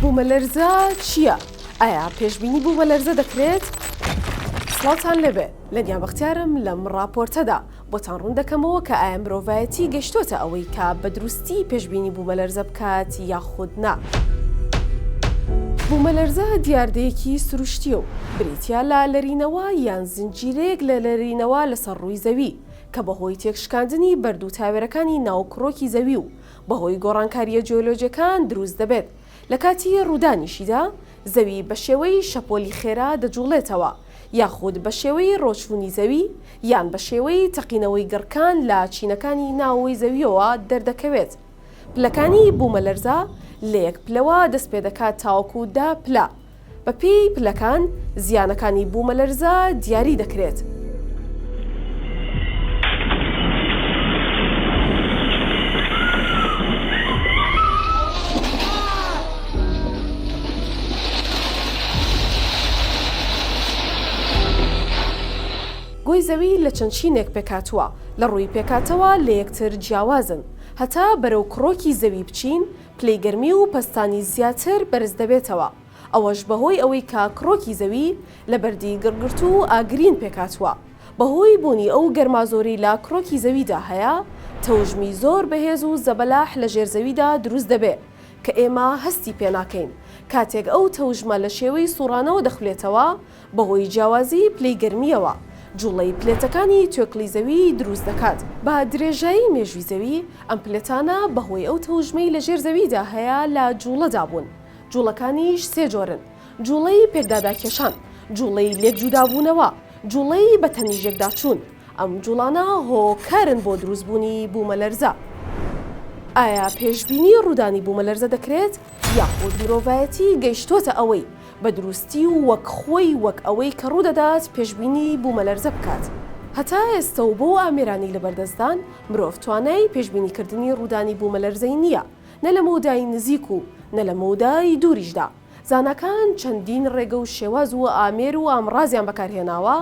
بومەلەرزە چیە ئایا پێشبینی بومەلەرزە دەکرێت؟ سڵاوتان لێبێ لەنیا بەختیارم لەم ڕاپۆرتەدا بۆتان ڕوون دەکەمەوە کە ئایا مرۆڤایەتی گەشتۆتە ئەوەی کە بە دروستی پێشبینی بومەلەرزە بکات یاخود نا؟ بومەلەرزە دیاردەیەکی سروشتیە و بریتیە لە لەرینەوە یان زنجیرەیەک لە لەرینەوە لەسەر ڕووی زەوی کە بەهۆی تێکشکاندنی بەرد و تاوێرەکانی ناو کڕۆکی زەوی و بەهۆی گۆڕانکارییە جیۆلۆجیەکان دروست دەبێت، لە کاتی ڕوودانیشیدا زەوی بە شێوەی شەپۆلی خێرا دەجوڵێتەوە، یاخود بە شێوەی ڕۆچوونی زەوی یان بە شێوەی تەقینەوەی گڕکان لە چینەکانی ناوەوەی زەوییەوە دەردەکەوێت. پلەکانی بوومەلەرزە لە یەک پلەوە دەستپێدەکات تاوەکو دە پلە. بەپێی پلەکان زیانەکانی بوومەلەرزە دیاری دەکرێت. گۆی زەوی لە چەند چینێک پێکهاتووە، لە ڕووی پێکهاتەوە لە یەکتر جیاوازن. هەتا بەرەو کڕۆکی زەوی بچین، پلەی گەرمی و پەستانی زیاتر بەرز دەبێتەوە، ئەوەش بەهۆی ئەوەی کە کڕۆکی زەوی لە بەردی گڕگرتوو و ئاگرین پێکهاتووە، بەهۆی بوونی ئەو گەرما زۆرەی لە کڕۆکی زەویدا هەیە، تەوژمی زۆر بەهێز و زەبەلاح لە ژێر زەویدا دروست دەبێ کە ئێمە هەستی پێناکەین، کاتێک ئەو تەوژمە لە شێوەی سوڕانەوە دەخولێتەوە، بەهۆی جیاوازیی پلەی گەرمییەوە، جووڵەی پلێتەکانی توێکڵی زەوی دروست دەکات. بە درێژایی مێژووی زەوی، ئەم پلێتانە بەهۆی ئەو تەوژمەی لەژێر زەویدا هەیە لە جووڵەدا بوون. جووڵەکانیش سێ جۆرن، جووڵەی پێکداداکێشان، جووڵەی لێکجوودابوونەوە، جووڵەی بەتەنیژێکداچوون. ئەم جووڵانە هۆکارن بۆ دروستبوونی بوومەلەرزە. ئایا پێشبینی ڕوودانی بوومەلەرزە دەکرێت، یاخود مرۆڤایەتی گەیشتووەتە ئەوەی بە دروستی و وەک خۆی وەک ئەوەی کە ڕوودەدات پێشبینی بوومەلەرزە بکات. هەتا ئێستە و بۆ ئامێرانی لەبەردەستدان، مرۆڤ توانای پێشبینیکردنی ڕوودانی بوومەلەرزەی نییە، نە لە مەودای نزیک و نە لە مەودای دووریشدا. زاناکان چەندین ڕێگە و شێواز و ئامێر و ئامڕازیان بەکارهێناوە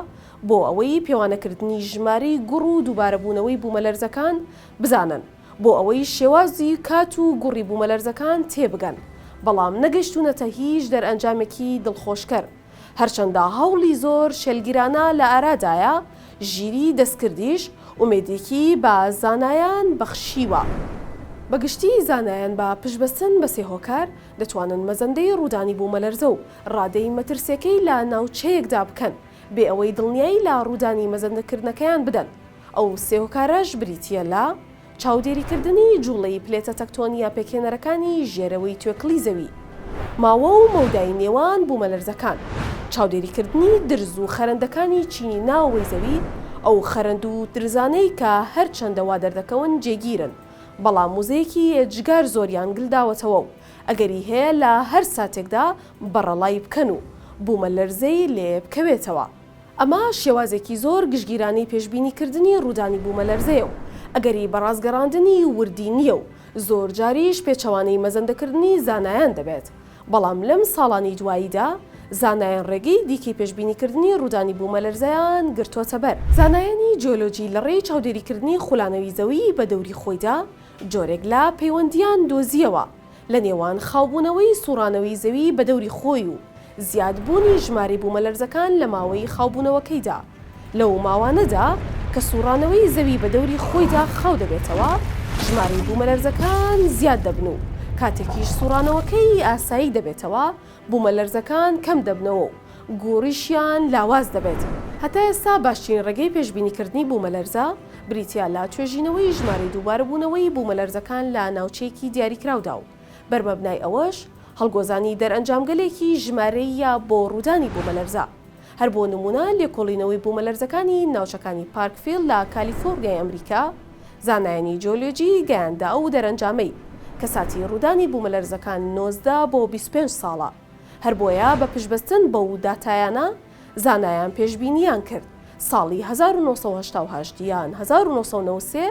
بۆ ئەوەی پێوانەکردنی ژمارەی گوڕ و دووبارەبوونەوەی بوومەلەرزەکان بزانن. بۆ ئەوەی شێوازی کات و گوڕی بوومەلەرزەکان تێبگەن، بەڵام نەگەشتوونەتە هیچ دەرئەنجامێکی دڵخۆشکەر، هەرچەندە هەوڵی زۆر شێلگیرانە لە ئارادایە، ژیری دەستکردیش ئومێدێکی بە زانایان بەخشیوە. بە گشتی زانایان بە پشتبەستن بە سێ هۆکار، دەتوانن مەزەندەی ڕوودانی بوومەلەرزە و ڕادەی مەترسییەکەی لە ناوچەیەکدا بکەن، بێ ئەوەی دڵنیایی لە ڕوودانی مەزەندەکردنەکەیان بدەن، ئەو سێ هۆکارەش بریتییە لە، چاودێریکردنی جووڵەی پلێتە تەکتۆنییە پێکهێنەرەکانی ژێرەوەی توێکڵی زەوی، ماوە و مەودای نێوان بوومەلەرزەکان، چاودێریکردنی درز و خەرەندەکانی چینی ناوەوەی زەوی، ئەو خەرەند و درزانەی کە هەرچەندە وا دەردەکەون جێگیرن، بەڵام وزەیەکی ئێجگار زۆریان گلداوەتەوە و ئەگەری هەیە لە هەر ساتێکدا بەڕەڵای بکەن و بوومەلەرزەی لێ بکەوێتەوە. ئەمە شێوازێکی زۆر گشتگیرانەی پێشبینیکردنی ڕوودانی بوومەلەرزەیە و ئەگەری بەڕاستگەڕاندنی وردی نییە و زۆرجاریش پێچەوانەی مەزەندەکردنی زانایان دەبێت، بەڵام لەم ساڵانی دواییدا زانایان ڕێگەی دیکەی پێشبینیکردنی ڕوودانی بوومەلەرزەیان گرتۆتەبەر. زانایانی جیۆلۆجی لەڕێی چاودێریکردنی خولانەوی زەوی بە دەوری خۆیدا جۆرێک لە پەیوەندییان دۆزییەوە، لە نێوان خاوبوونەوەی سووڕانەوەی زەوی بە دەوری خۆی و زیادبوونی ژمارەی بوومەلەرزەکان لە ماوەی خاوبوونەوەکەیدا، لەو ماوانەدا کە سووڕانەوەی زەوی بە دەوری خۆیدا خاو دەبێتەوە، ژمارەی بوومەلەرزەکان زیاد دەبن و کاتێکیش سووڕانەوەکەی ئاسایی دەبێتەوە، بوومەلەرزەکان کەم دەبنەوە و گوڕیشیان لاواز دەبێت. هەتا ئێستا باشترین ڕێگەی پێشبینیکردنی بوومەلەرزە بریتییە لە توێژینەوەی ژمارەی دووبارەبوونەوەی بوومەلەرزەکان لە ناوچەیەکی دیاریکراودا و بەر مەبنای ئەوەش هەڵگۆزانی دەرئەنجامگەلێکی ژمارەییە بۆ ڕوودانی بوومەلەرزە هەر بۆ نموونە لێکۆڵینەوەی بوومەلەرزەکانی ناوچەکانی پارکڤیل لە کالیفۆڕنیای ئەمریکا، زانایانی جیۆلۆجی گەیاندە ئەو دەرەنجامەی، کە ساتی ڕوودانی بوومەلەرزەکان نۆزدە بۆ بیست و پێنج ساڵە، هەر بۆیە بە پشتبەستن بەو داتایانە زانایان پێشبینییان کرد ساڵی هەزار و نۆ سەد و هەشتا و هەشت یان هەزار و نۆ سەد و نەوەد و سێ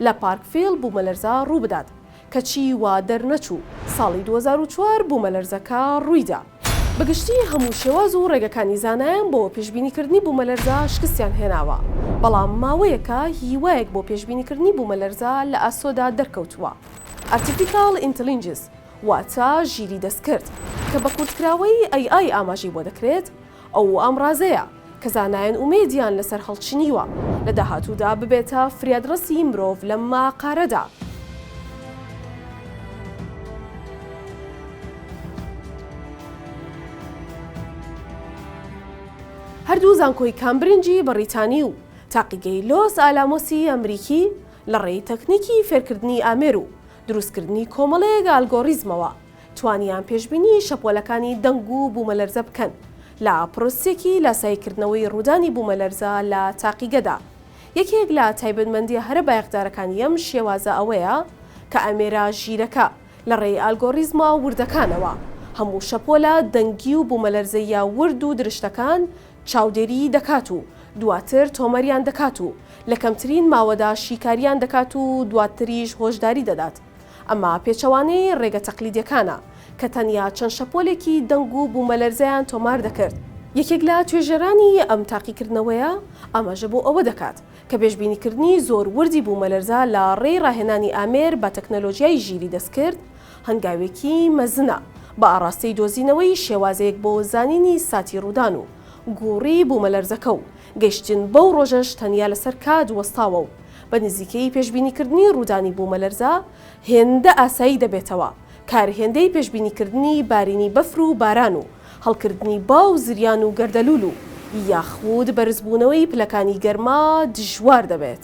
لە پارکڤیل بوومەلەرزە ڕووبدات، کەچی وا دەرنەچوو ساڵی دوو هەزار و چوار بوومەلەرزەکە ڕوویدا. بەگشتی هەموو شێواز و ڕێگەکانی زانایان بۆ پێشبینیکردنی بوومەلەرزە شکستیان هێناوە، بەڵام ماوەیەکە هیوایەک بۆ پێشبینیکردنی بوومەلەرزە لە ئاسۆدا دەرکەوتووە، ئارتیفیکاڵ ئینتڵینجس، واتە ژیری دەستکرد، کە بە کورتکراوەی AI ئاماژەی بۆ دەکرێت، ئەو ئامڕازەیە کە زانایان ئومێدیان لەسەر هەڵچنیوە لە داهاتوودا ببێتە فریادڕەسی مرۆڤ لەم ماقارەدا. هەردوو زانکۆی کامبرنجی بەڕیتانی و تاقیگەی لۆس ئالامۆسی ئەمریکی لەڕێی تەکنیکی فێرکردنی ئامێر و دروستکردنی کۆمەڵەیەک ئالگۆڕیزمەوە توانیان پێشبینی شەپۆلەکانی دەنگ و بوومەلەرزە بکەن لە پرۆسیەکی لاساییکردنەوەی ڕوودانی بوومەلەرزە لە تاقیگەدا. یەکێک لە تایبەتمەندیە هەرە بایەخدارەکانی ئەم شێوازە ئەوەیە کە ئامێرە ژیرەکە لە ڕێی ئالگۆڕیزمە وردەکانەوە هەموو شەپۆلە دەنگی و بوومەلەرزەییە ورد و درشتەکان چاودێریی دەکات و دواتر تۆمەریان دەکات و لە کەمترین ماوەدا شیکاریان دەکات و دواتریش هۆشداری دەدات ئەمە پێچەوانەی ڕێگە تەقلیدیەکانە، کە تەنیا چەند شەپۆلێکی دەنگ و بوومەلەرزەیان تۆمار دەکرد. یەکێک لە توێژەرانی ئەم تاقیکردنەوەیە ئاماژە بۆ ئەوە دەکات، کە پێشبینیکردنی زۆر وردی بوومەلەرزە لە ڕێی ڕاهێنانی ئامێر بە تەکنەلۆژیای ژیری دەستکرد هەنگاوێکی مەزنە بە ئاڕاستەی دۆزینەوەی شێوازێک بۆ زانینی ساتی ڕوودان و گووڕی بوومەلەرزەکە و گەیشتن بەو ڕۆژەش تەنیا لەسەر کات وەستاوە و بە نزیکەیی پێشبینیکردنی ڕوودانی بوومەلەرزە هێندە ئاسایی دەبێتەوە، کار هێندەی پێشبینیکردنی بارینی بەفر و باران و هەڵکردنی با و زریان و گەردەلوول و یاخود بەرزبوونەوەی پلەکانی گەرما دژوار دەبێت.